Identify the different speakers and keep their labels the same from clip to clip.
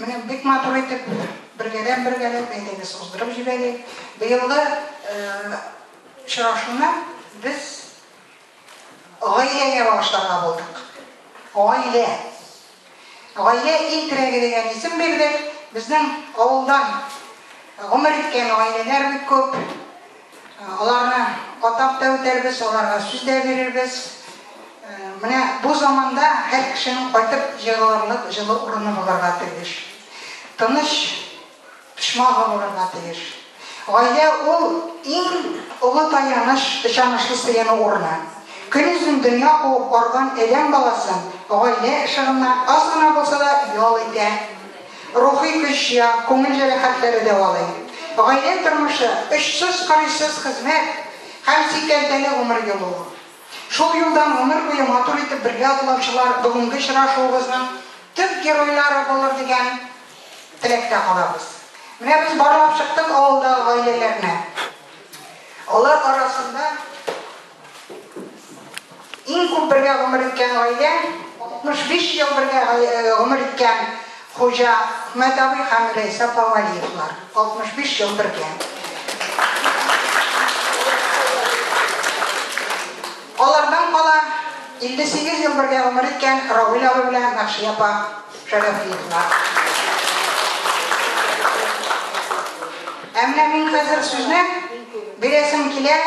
Speaker 1: Менә бик матур итеп бергәләп бергәләп әйдәгез уздырып җибәрик. Быелгы очрашуны без гаиләгә багышларга булдык. Гаилә. Гаилә иң терәге дигән исем бирдек. Безнең авылдан гомер иткән гаиләләр бик күп. Аларны атап та үтәрбез, аларга сүз дә бирербез. Менә бу заманда һәр кешенең кайтып җыелырлык җылы урыны булырга тиеш. Тыныч почмагы булырга тиеш. Гаилә ул иң олы таяныч, ышанычлы сыену урыны. Көньюзен дөнья куып арган адәм баласын гаилә ышыгыннан аз гына булса да ял итә. Рухи көч җыя, күңел җәрәхәтләре дәвалый. Гаилә тормышы, очсыз-кырыйсыз хезмәт һәм сикәлтәле гомер юлы ул. Шул юлдан гомер буе матур итеп бергә атлаучылар бүгенге очрашуыбызның төп геройлары булыр дигән теләктә калабыз. Менә без барлап чыктык авылдагы гаиләләрне. Алар арасында. Иң күп бергә гомер иткән гаилә, 65 ел бергә гомер иткән Хуҗа Хмәт абый һәм Рәйсә апа Вәлиевлар. 65 ел бергә. Алардан кала 58 ел бергә гомер иткән Равил абый белән Мәхшия апа Шәрәфиевлар. Ә менә мин хәзер сүзне бирәсем килә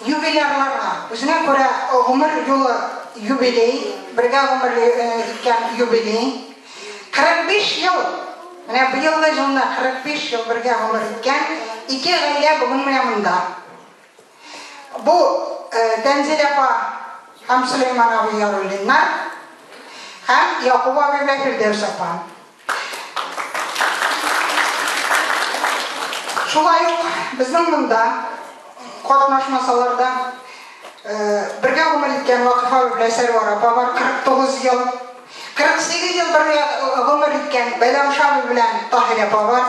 Speaker 1: Юбилярларга, үзенә күрә гомер юлы юбилей, бергә гомер иткән юбилей, 45 ел, менә быелгы җылны 45 ел бергә гомер иткән ике гаилә бүген менә монда. Бу, Тәнзилә апа һәм Сөләйман абый Яруллиннар һәм Якуб абый белән Фирдәүс апа. Шулай ук безнең монда катнашмасалар да, бергә гомер иткән Вакыйфа берлә Сәрвар апа бар, 49 ел. 48 ел бергә гомер иткән Бәйләм Шаби белән Таһир апа бар.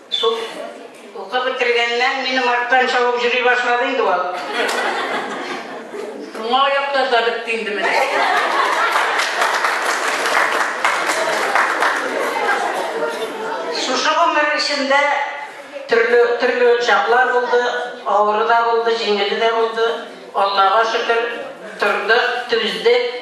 Speaker 1: Шул укып бетергәннән минем арттан чабып йөри башлады инде ул. Шуңа аяктан да бетте инде менә. Шушы гомер эчендә төрле төрле чаклар булды, авыры да булды, җиңеле дә булды. Аллага шөкер, тордык, түздек.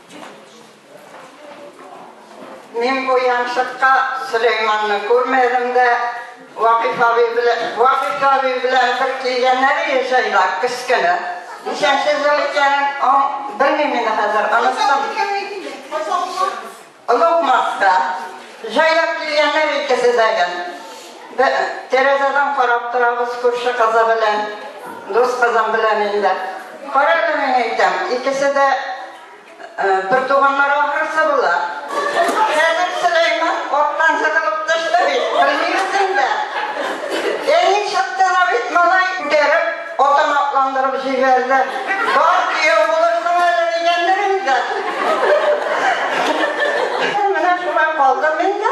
Speaker 1: Мин бу яншыкка Сөләйманны күрмәдем дә, Вакиф абый белән, Вакиф абый белән бер килгәннәр иде җайда, кескене. Ничәнче ел икәнен белмим инде хәзер, оныттым. Олугматта. Җайлап килгәннәр икесе дә Бе, тәрәзәдән карап торабыз күрше кызы белән, дус кызым белән инде. Кара әле, мин әйтәм, икесе дә бертуганнар ахрысы була. Хәзер Сөләйман арттан сыгылып төште бит, белмибез инде. Әни чыкты да бит, малай, күтәреп, атын атландырып җибәрде. Бар, кияү булырсың әле, дигәндер инде. Менә шулай калдым инде.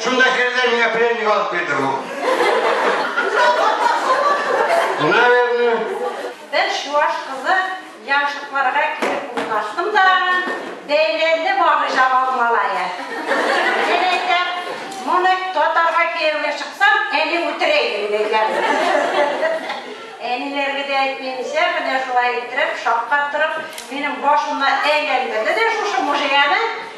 Speaker 1: Шунда керде, миңа пленник алып бирде бу. Наверное. Бер чуаш кызы яншыкларга килеп урнаштым да, бәйләнде бары җавал малае. Мин әйтәм, моны татарга кияүгә чыксам, әни үтерә иде дигән. Әниләргә дә әйтмәенчә, менә шулай иттереп, шаккатырып, минем башымны әйләндерде дә шушы мужияне.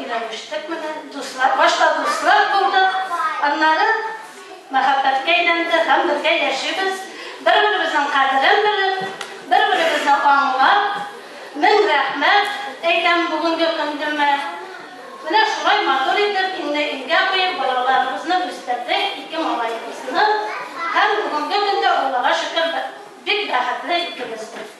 Speaker 1: Өйләнештек менә, дуслар, башта дуслар булдык, аннары мәхәббәткә әйләнде һәм бергә яшибез. Бер-беребезнең кадерен белеп, бер-беребезне аңлап, мең рәхмәт әйтәм бүгенге көндемә. Менә шулай матур итеп инде илгә куеп, балаларыбызны үстердек, ике малаебызны. Һәм бүгенге көндә, Аллага шөкер, бик бәхетле икебез дә.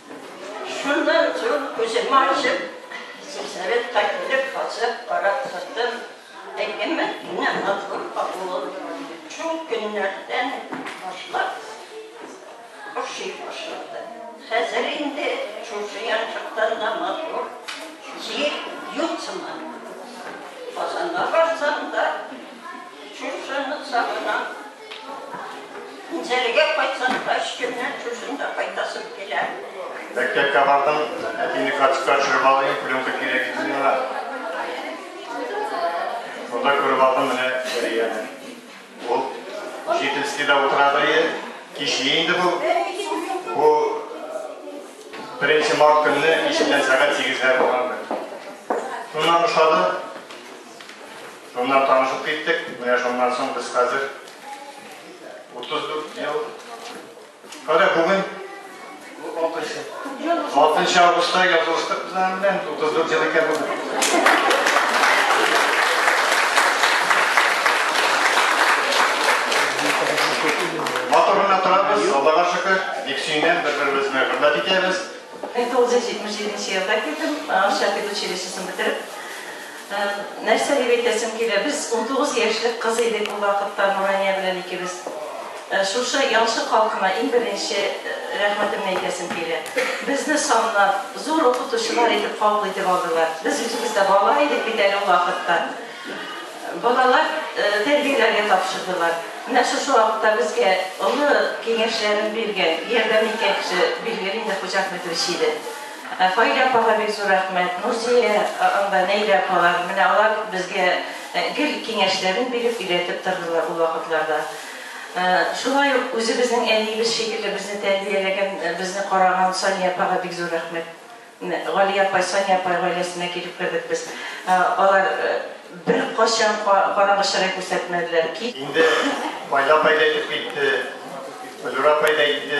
Speaker 1: Шуннан соң күземне ачып, сельсоветка килеп басып карап тордым. Әйеме, менә матур авылым. Шул көннәрдән башлап ошый башлады. Хәзер инде шушы янчыктан да матур җир юк сыман. Казанга барсам да, шушыны сагынам. Үзәлегә кайтсаң да, өч көннән шушында да кайтасың килә. Мәктәпкә бардың, әтине карточка төшереп алайын, пленка кирәк икән миңа. Шунда күреп алдым менә Сәрияне. Ул учительскийда утырады иде. Кичли инде бу. Бу беренче март көнне киченнән сәгать 8-ләр булган. Шуннан ошады. Шуннан танышып киттек. Менә шуннан соң без хәзер 34 ел. Кара бүген 6 августта язылыштык без аның белән 34 ел икән бүген. Матурына торабыз, Аллага шөкер, бик сөенәм, бер-беребезне хөрмәт итәбез. 1977 елда килдем, Шәфикъ училищесын бетереп. Нәрсә дип әйтәсем килә, без унтугыз яшьлек кыз идек ул вакытта Нурания белән икебез. Шушы Ялчы халкына иң беренче рәхмәтемне әйтәсем килә. Безне санлап, зур укытучылар итеп кабул итеп алдылар. Без үзебез дә бала идек бит әле ул вакытта. Балалар тәрбияләргә тапшырдылар. Менә шушы вакытта безгә олы киңәшләрен биргән, ярдәм иткән кеше, билгеле инде, Хуҗа Әхмәтович иде. Фаилә апага бик зур рәхмәт, Нурзия апа, Нәйлә апалар, менә алар безгә гел киңәшләрен биреп, өйрәтеп тордылар ул вакытларда. Шулай ук үзебезнең әниебез шикелле безне тәрбияләгән, безне караган Сания апага бик зур рәхмәт. Галия апай, Сания апай гаиләсенә килеп кердек без. Алар беркайчан караңгы чырай күрсәтмәделәр. Инде Фаилә апай да әйтеп китте, Флюра апай да әйтте.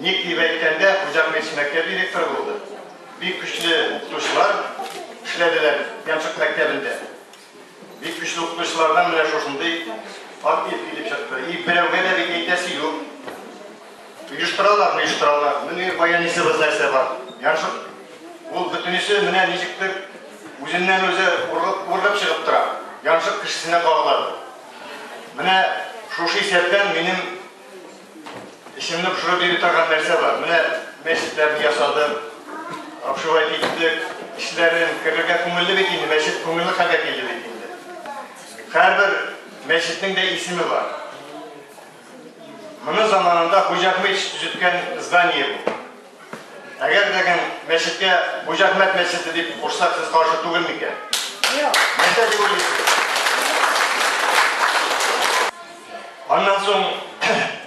Speaker 1: Ник дип әйткәндә, Хуҗа Гыйс мәктәп директоры булды. Бик көчле укытучылар эшләделәр Ямшык мәктәбендә. Бик көчле укытучылардан менә шушындый актив килеп чыкты. И берәүгә дә бит әйтәсе юк. Оештыралар, оештыралар. Менә баянисыбыз нәрсә бар. Ямшык ул бөтенесе менә ничектер үзеннән үзе ургып чыгып тора. Ямшык кешесенә кагыла. Менә шушы исәптән минем Исемне пошырып биреп торган нәрсә бар. Менә мәчетләрне ясадык, шулай киттек, эшләрен керергә күңелле бит инде, мәчет күңелле хәлгә килде бит инде. Һәрбер мәчетнең дә исеме бар. Моны заманында Хуҗа Ахмедович төзеткән здание бу. Әгәр дәген мәчеткә Хуҗа Әхмәт мәчете дип кушсак, сез каршы түгел микән? Юк. Нәрсә дип уйлыйсыз? Аннан соң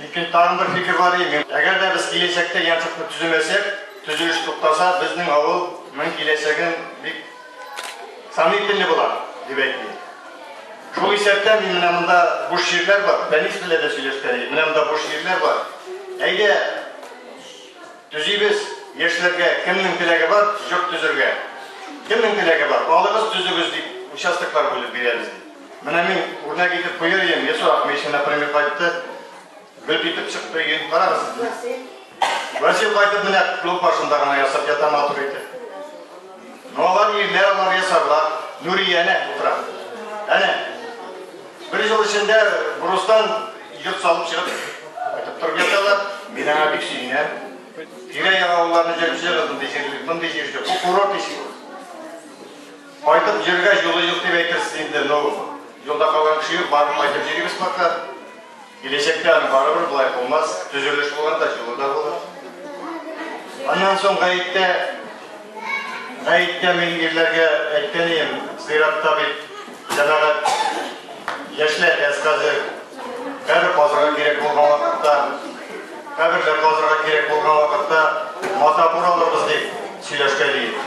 Speaker 1: икенче тагын бер фикер бар иде. Әгәр дә без киләчәктә янчыкны төземәсәк, төзелеш туктаса, безнең авыл мин киләчәген бик сомнительный була, дип әйтте. Шул исәптән мин менә монда буш җирләр бар, Фәнис белән дә сөйләшкән идем. Менә монда буш җирләр бар. Әйдә, Төзибез, яшьләргә кемнең теләге бар, йорт төзергә. Кемнең теләге бар, алыгыз, төзегез, дип, участоклар бүлеп бирәбез, ди. Менә мин үрнәк итеп куяр идем, Ясур Ахмечин, например, кайтты, гөп итеп чыкты, өен карагыз. Васил кайтып менә клуб башында гына ясап ята матур итеп. Ну алар ирләр, алар ясарлар. Нурия әнә утыра. Әнә. Бер ел эчендә брустан йорт салып чыгып кайтып торып яталар. Мин аңа бик сөенәм. Тирә-як авылларны җыеп җыгыз, мондый җир, мондый җир юк. Бу курорт иши. Кайтып җиргә юлы юк дип әйтерсез инде, но юлда калган кеше юк, барып кайтып җирибез пока. Киләчәктә аны барыбер болай булмас, төзелеш булганда җылы да булыр. Аннан соң гаеттә, гаеттә мин ирләргә әйткән идем, зыйратта бит җәмәгать яшьләр дә хәзер кабер казырга кирәк булган вакытта, каберләр казырга кирәк булган вакытта мата буралырбыз дип сөйләшкән идек.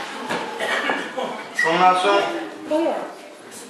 Speaker 1: Шуннан соң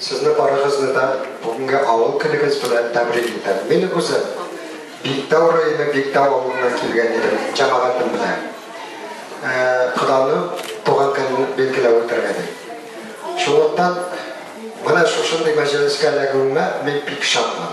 Speaker 1: Сезне барыгызны да бүгенге авыл көнегез белән тәбрик итәм. Мин үзем Биктау районы Биктау авылыннан килгән идем, җәмәгатем белән. Коданы туган көнен билгеләп үтәргә ди. Шунлыктан менә шушындый мәҗлескә эләгүемә мин бик шатмын.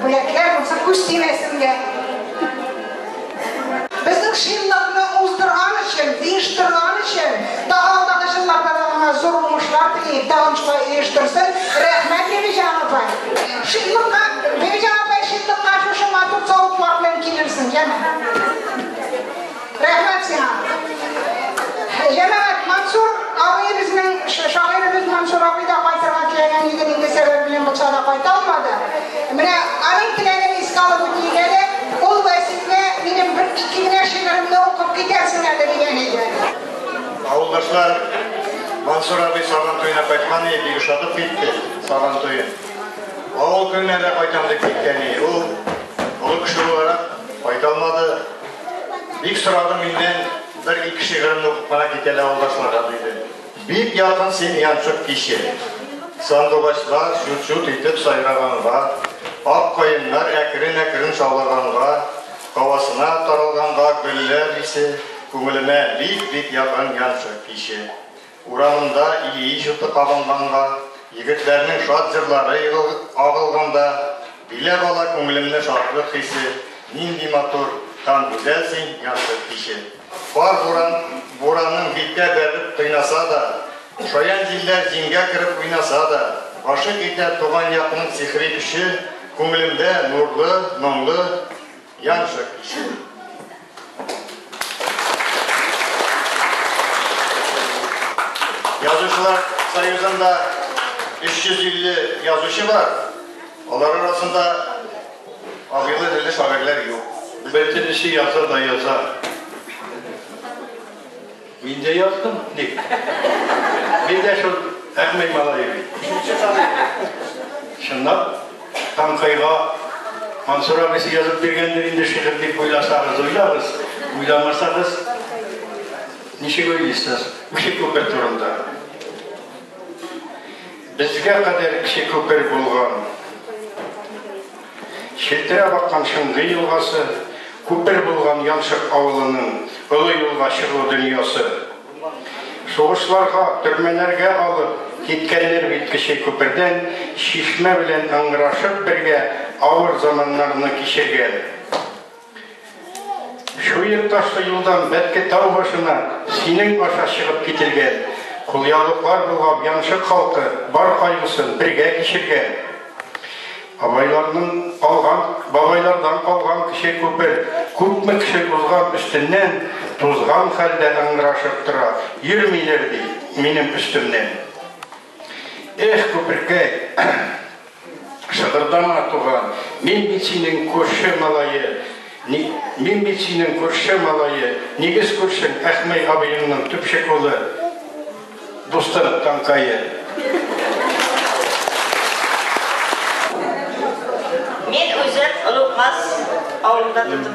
Speaker 1: Бүләкләр булса күз тимәсен дә. Безнең шинлыкны уздырган өчен, оештырган өчен, тагы алдагы җылларда да аңа зур уңышлар телим, тагын шулай оештырсын. Рәхмәт, Бибиҗан апай. Шинлыкка, Бибиҗан апай, шинлыкка шушы матур савытлар белән килерсең, яме. Рәхмәт сиңа. Җәмәгать Мансур абый безнең шагыйребез Мансур абый да кайтырга теләгән иде, инде сәбәп белән булса да кайта алмады. Менә аның теләген искә алып үтик әле. Ул Вәсилне минем бер ике генә шигыремне укып китәрсең әле дигән иде. Авылдашлар Мансур абый Сабан туена кайтман иде, бик ошатып китте Сабан туен. Авыл көненә дә кайтам дип киткән иде. Ул олы кеше буларак кайта алмады. Бик сорадым миннән, бер-ике шигыремне укып кына кит әле авылдашларга, диде. Бик якын син янчык киче. Сандугачлар чут-чут итеп сайраганга, ак каеннар әкрен-әкрен шаулаганга, һавасына таралганга гөлләр исе күңелемә бик-бик якын янчык киче. Урамында Ильич җуты кабынганга, егетләрнең шат җырлары агылганда, Биләп ала күңелемне шатлык хисе, Нинди матур һәм гүзәл син, янчык киче. Кар бураның биткә бәреп кыйнаса да, Шаян җилләр җиңгә кереп уйнаса да, Гашыйк итә туган якның сихри көче, Күңелемдә нурлы, моңлы. Яша кеше. Язучылар союзында 350 язучы бар. Алар арасында агыйлы телле шагыйрьләр юк. Бер теллесе яза да яза. Мин дә яздым, ник? Мин дә шул Әхмәй малае бит. Икенче сан инде. Чынлап, Тамкыйга Мансур абыйсы язып биргәндер инде шигырь дип уйласагыз, уйлагыз, уйламасагыз, ничек уйлыйсыз? Кече күпер турында. Безгә кадәр кече күпер булган. Челтерәп аккан Шундый елгасы, күпер булган Яншык авылының олы юлга чыгу дөньясы. Сугышларга, төрмәләргә алып киткәннәр бит кече күпердән, Чишмә белән ыңгырашып бергә авыр заманнарны кичергән. Чуек ташлы юлдан Бәтке тау башына синең аша чыгып кителгән. Кулъяулыклар булган янчык халкы бар кайгысын бергә кичергән. Бабайларның калган, бабайлардан калган кеше күпер, күпме кеше узган өстеннән, тузган хәлдә ыңгырашып тора, йөрмиләр ди минем өстемнән. Эх, күперкәй, шыгырдама, туган, мин бит синең күрше малае, мин бит синең күрше малае, нигез күршең Әхмәй абыеңның төпчек улы, дустым Танкае. Мин үзем Онукмас авылында тудым.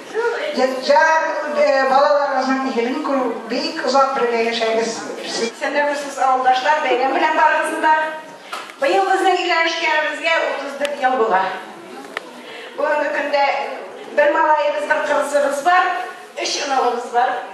Speaker 1: Ятьяр э, балаларыгызның игелен күрү, бик озак бергә яшәгез. Сәләмсез авылдашлар, бәйрәм белән барыгызны да. Быел безнең өйләнешкәнебезгә 34 ел була. Бүгенге көндә бер малаебыз, бер кызыбыз бар, өч оныгыбыз бар.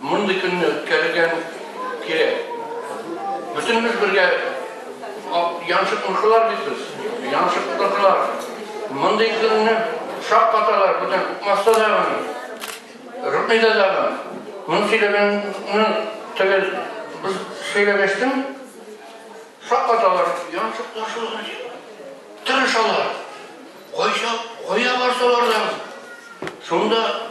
Speaker 1: Мондый көнне үткәрергә кирәк. Бөтенебез бергә яншык мышылар бит без. Яншык тотылар. Мондый көнне шак каталар, бүтән укмаста да гына. Рухни да да гына. Моны сөйләгәнне төгәл без сөйләгәчтем. Шак каталар, яншык ташылган. Тырышалар. Кайса, кая барсалар да. Шунда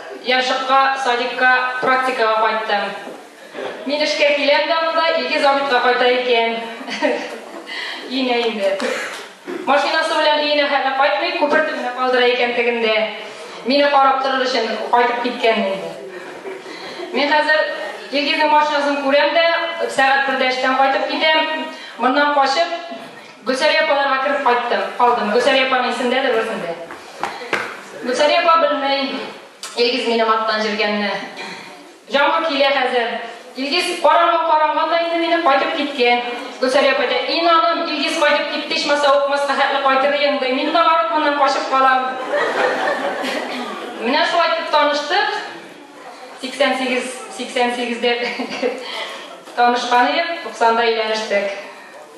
Speaker 1: Яршыкка, садикка, практикага кайттым. Мин эшкә киләм дә монда, Илгиз Абитка кайта икән. Өенә инде. Машинасы белән өенә хәле кайтмый, күпер төбенә калдыра икән тегендә. Мине карап торыр өчен кайтып киткән инде. Мин хәзер Илгизның машинасын күрәм дә, сәгать бердә эштән кайтып китәм. Моннан качып, Гөлсария апаларга кереп кайттым, калдым. Гөлсария апа мин сендәдер бер сендә. Гөлсария апа белми, Илгиз минем аттан җиргәнне. Җамгыр килә хәзер. Илгиз караңгы каранган да инде мине кайтып киткән. Гөлсария апа әйтә, инаным, Илгиз кайтып китте, ичмаса укмаска хәтле кайтыр идең, ди. Мин табарып моннан качып калам. Менә шулай итеп таныштык. 88, 88 дә танышкан идек, 90 да өйләнештек.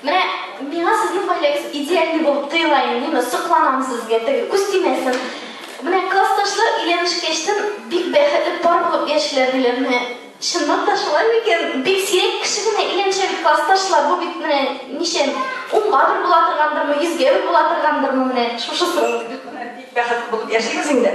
Speaker 1: Менә миңа сезнең гаиләгез идеальный булып тоела инде, мин сокланам сезгә, теге күз тимәсен. Менә классташлар өйләнешкәчтен бик бәхетле пар булып яшиләр диләр. Менә чынлап та шулай микән? Бик сирәк кеше генә өйләнешә бит классташлар. Бу бит менә ничә унга бер була торгандырмы, йөзгә бер була торгандырмы менә шушысы. Бик бәхетле булып яшибез инде.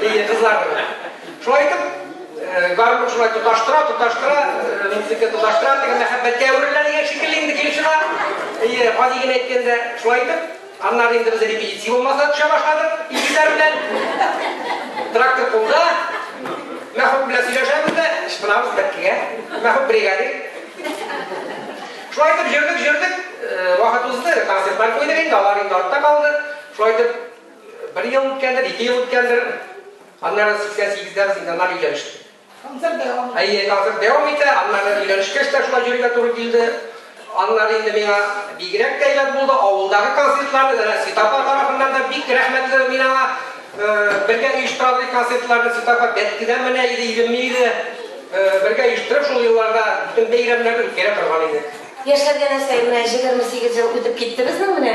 Speaker 1: Ди кызлар. Шулай итеп, э, гармун шулай тоташтыра, тоташтыра, э, музыка тоташтыра, теге мәхәббәткә әверелә дигән шикелле инде килеп чыга. Ие, гади генә әйткәндә, шулай итеп, аннары инде без репетиция булмаса төшә башладык, икеләр белән. Трактор кулда, мәхәббәт белән сөйләшәбез дә, ышпынабыз бәткегә, мәхәббәт бригаде. Шулай итеп, җөрдек, җөрдек, э, вакыт узды, концертлар куйдык инде, алар инде артта калды. Шулай итеп, Бер ел үткәндер, ике ел үткәндер. Аннары 88-дә без инде аннары өйләнештек. Концерт дәвам итә. Әйе, концерт дәвам итә. Аннары өйләнешкәч тә шулай йөрергә туры килде. Аннары инде миңа бигрәк тә әйбәт булды. Авылдагы концертларны да Сит апа тарафыннан да бик рәхмәтле мин аңа. Бергә оештырабыз концертларны. Сит апа Бәткедән менә иде, Илемне иде. Бергә оештырып шул елларда бөтен бәйрәмнәрне үткәрә торган идек. Яшьләргә нәрсә, менә җегерме сигез ел үтеп китте безнең, менә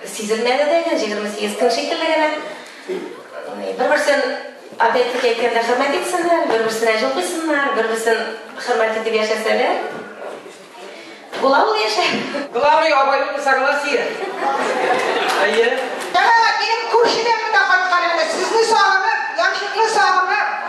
Speaker 1: сизелмәде дә инде, җегерме сигез көн шикелле генә. Бер-берсен, опять-таки әйткәндә, хөрмәт итсеннәр, бер-берсенә җил койсыннар, бер-берсен хөрмәт итеп яшәсәләр, була ул яшә. Главный абайлык согласие. Әйе. Әнә, минем күршедән генә кайткан әнә, сезне сагынып, янчыкны сагынып.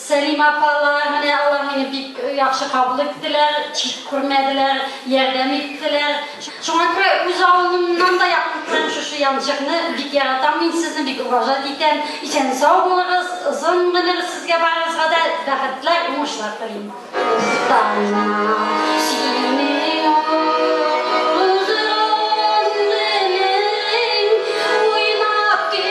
Speaker 1: Сәлимә апалар, менә алар мине бик яхшы кабул иттеләр, чит күрмәделәр, ярдәм иттеләр. Шуңа күрә үз авылымнан да якын күрәм шушы янчыкны, бик яратам мин сезне, бик уважать итәм. Исән-сау булыгыз, озын гомер сезгә барыгызга да, бәхетләр, уңышлар телим. Дустана, синең озын гомерең уйнап килсен!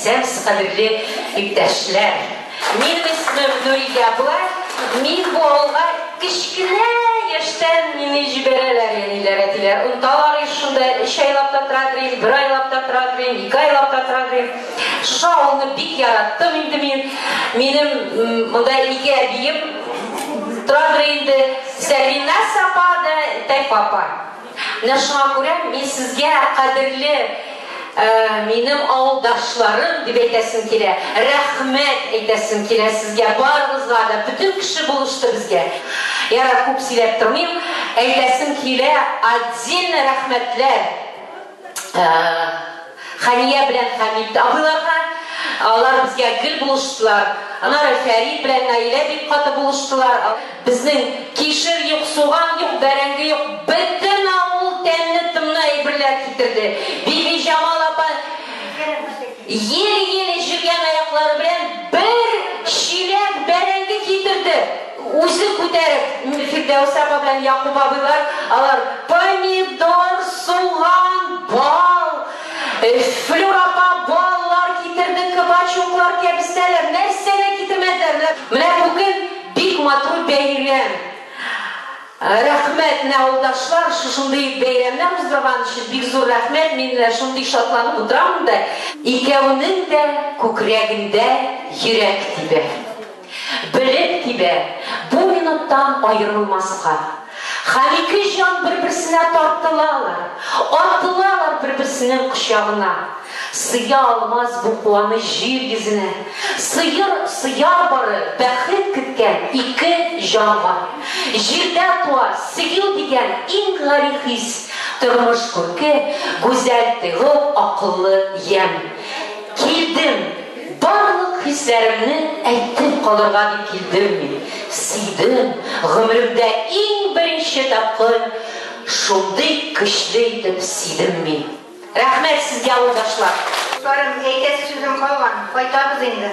Speaker 1: Сәмс кадерле иптәшләр, минем исмем Нурия була, мин бу авылга кечкенә яшьтән мине җибәрәләр әниләр, әтиләр. Онталар еш шунда, өч айлап та тора дим, бер айлап та тора дим, ике айлап та тора дим. Шушы авылны бик яраттым инде мин. Минем монда ике әбием тора инде, Сәлинә Сапа да Тәйфа апа. Менә шуңа күрә мин сезгә, кадерле минем авылдашларым, дип әйтәсем килә, рәхмәт әйтәсем килә сезгә барыгызга да, бөтен кеше булышты безгә. Ярар, күп сөйләп тормыйм, әйтәсем килә отдельно рәхмәтләр. Ә, Хәния белән Хәмит абыйларга алар безгә гел булыштылар. Аннары Фәрид белән Наилә бик каты булыштылар. Безнең кишер юк, суган юк, бәрәңге юк. Бөтен авыл тәмле-томлы әйберләр китерде. Бибиҗамал апа Еле-еле җилгән аяклары белән бер чиләк бәрәңге китерде, үзе күтәреп. Фирдәүс апа белән Якуб абыйлар алар помидор, суган, бал, Флүр апа баллар китерде, кабачуклар, кәбестәләр, нәрсә генә китермәделәр, менә бу көн бик матур бәйрәм. Рәхмәт, менә авылдашлар, шушындый бәйрәмнәр уздырган өчен бик зур рәхмәт, мин менә шундый шатланып утырамын да, икәвенең дә күкрәгендә йөрәк тибә. Белеп тибә, бу минуттан аерылмаска. Һәм ике җан бер-берсенә тартылалар, атылалар бер-берсенең кочагына. Сыя алмас бу куаныч җир йөзенә. Сыер, сыяр бары бәхет көткән ике җанга. Җирдә туа, сөю дигән иң гари хис, тормыш күрке, гүзәл тойгы, акыллы ямь. Килдем, барлык хисләремне әйтеп калырга дип килдем мин. Сөйдем, гомеремдә иң беренче тапкыр шундый көчле итеп сөйдем мин. Рәхмәт сезгә авылдашлар. Дусларым, әйтәсе сүзем калган, кайтабыз инде.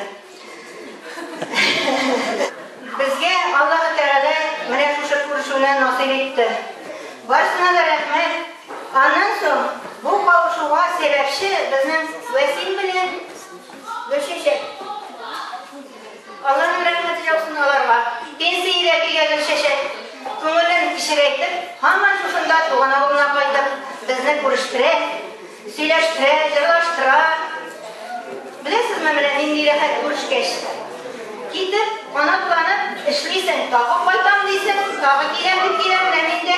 Speaker 1: Безгә Аллаһы Тәгалә менә шушы күрешүне насыйп итте. Барсына да рәхмәт. Аннан соң бу кавышуга сәбәпче безнең Вәсим белән Гөлчәчәк. Алланың рәхмәте яусын аларга. Пенсиягә килгән Гөлчәчәк, күңелен кечерәйтеп, һаман шушында туган авылына кайтып, безне күрештерә, сөйләштерә, җырлаштыра. Беләсезме, менә нинди рәхәт күрешкәч. Китеп, канатланып эшлисең, тагы кайтам дисең, тагы киләм дип киләм, менә нинди.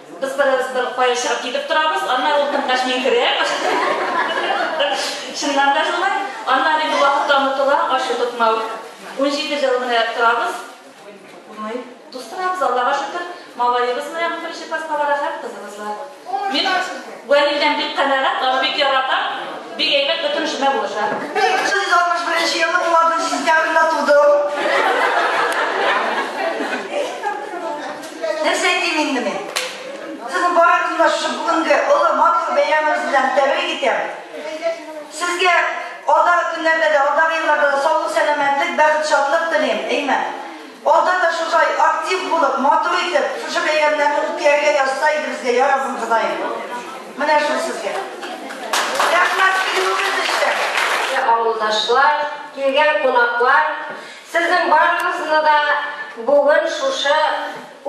Speaker 1: Без беребезне кая очрап китеп торабыз, аннары ул тыңгач мин керәм. Чыннан да шулай. Аннары инде вакытта онытыла, ачу тотмау. Унҗиде ел менә торабыз. Уңай. Тустырабыз, Аллага шөкер. Малаебыз менә беренче класска бара һәм кызыбыз бар. Мин Вәлидән бик канәгать, аны бик яратам. Бик әйбәт, бөтен эшемә булыша. 1961 елның 16 сентябрендә тудым. Нәрсә әйтим инде мин? Сезнең барыгызны шул бүгенге олы матур бәйрәмегез белән тәбрик итәм. Сезгә алда көннәрдә дә, алда елларда да саулык, сәламәтлек, бәхет, шатлык телим. Әйме? Алда да шушай актив булып, матур итеп, шушы бәйрәмнәрне үткәрергә язса иде безгә, я Раббым Ходаем. Менә шул сезгә. Рәхмәт, килүегез өчен. Авылдашлар, килгән кунаклар, Сезнең барыгызны да бүген шушы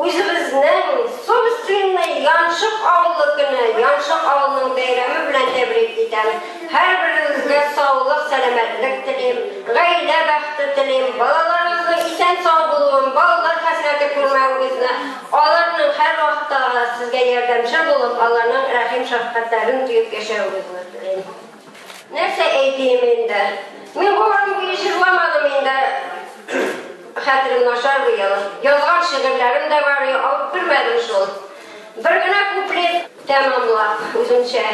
Speaker 1: үзебезнең собственный Янчык авылы көне, Янчык авылының бәйрәме белән тәбрик итәм. Һәрберегезгә саулык, сәламәтлек телим, гаилә бәхете телим, балаларыгызның исән-сау булуын, балалар хәсрәте күрмәвегезне, аларның һәрвакытта да сезгә ярдәмчел булып, аларның рәхим-шәфкатьләрен тоеп яшәвегезне телим. Нәрсә әйтим инде? Мин бу рамки җырламадым инде. Хәтерем начар бу ел. Язган шигырьләрем дә бар, алып кермәдем шул. Бер генә куплет тәмамлап үземчә.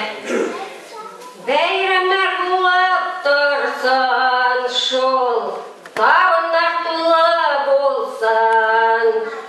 Speaker 1: Бәйрәмнәр булып торсын шул. Табыннар тулы булсын.